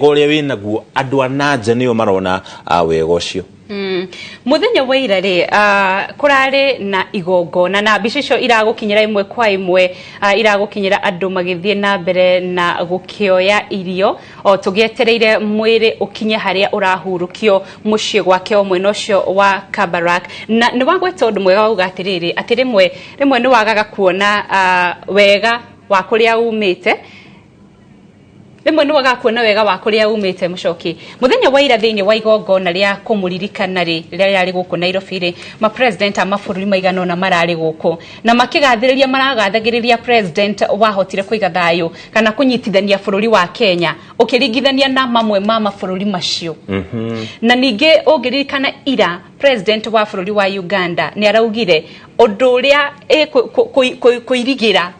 ũrĩa wĩ naguo andũ a nanja nĩo marona ah, wega ũcio Mm. muthenya wa ira rĩ ah, kũrarĩ na igongona na mbica icio iragũkinyĩra imwe kwa imwe ah, iragũkinyĩra andũ magĩthiĩ na mbere na gũkĩoya irio o tũgĩetereire mwĩrĩ ũkinye harĩa ũrahurũkio mũciĩ gwake o mwena ũcio wa kabarak na nĩ wagweta ũndũ mwega wauga atĩrĩrĩ atĩ rĩmwe rĩmwe nĩ wagaga kuona ah, wega wa kũrĩa umĩte rĩmwe nĩ waga kuona wega wa kũrĩa umĩte mũcoki mũthenya wa ira thĩinĩ wa igongona rĩa kũmũririkana rĩ rĩrĩa rĩarĩ gũkũ nairobi rĩ mapresident a mabũrũri maigana ũna mararĩ gũkũ na makĩgathĩrĩria maragathagĩrĩria president wahotire kũiga thayũ kana kũnyitithania bũrũri wa kenya ũkĩringithania na mamwe ma mabũrũri macio mhm. na ningĩ ũngĩririkana ira president wa bũrũri wa uganda nĩ araugire ũndũ ũrĩa kũirigĩra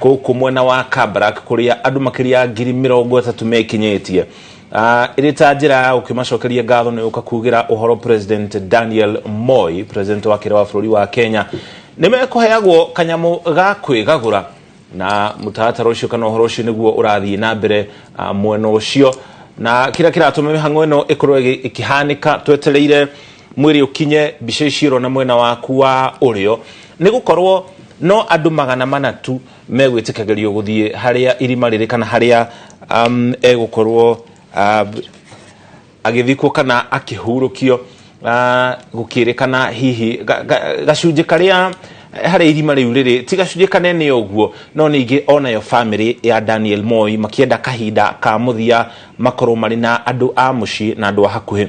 gũkũ mwena wa Kabarak kũrĩa andũ makĩria ya ngiri mĩrongo ĩtatũ mekinyĩtie Ah, ĩrĩ ta njĩra ya gũkĩmacokeria ngatho nĩ gũka kugĩra ũhoro president daniel moi president wa kĩra wa bũrũri wa kenya nĩ mekũheagwo kanyamũ ga kwĩgagũra na mũtaratara ũcio kana ũhoro ũcio nĩguo ũrathiĩ na mbere ah, mwena ũcio na kĩrĩa kĩratũma mĩhang'o ĩno ĩkorwo ĩgĩ- ĩkĩhanĩka twetereire mwĩrĩ ũkinye mbica ici ũrona mwena waku wa ũrĩo nĩ gũkorwo no andũ magana mana tu megwĩtĩkagĩrio gũthiĩ harĩa irima rĩrĩ kana harĩa um, egũkorwo uh, agĩthikwo kana akĩhurũkio uh, gũkĩrĩkana hihi ga- ga- gacunjĩ karĩa harĩa irima rĩu rĩrĩ ti gacunjĩ kanene ũguo no ningĩ onayo bamĩrĩ ya daniel moi makĩenda kahinda ka mũthia makorwo marĩ na andũ a mũciĩ na andũ a hakuhĩ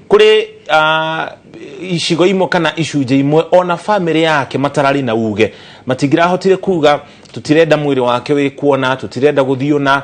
kuri ah, icigo imwe kana icunjĩ imwe ona bamĩrĩ yake matararĩ na uge matingĩrahotire kuga tũtirenda mwĩrĩ wake wĩ kuona tũtirenda gũthiĩ ona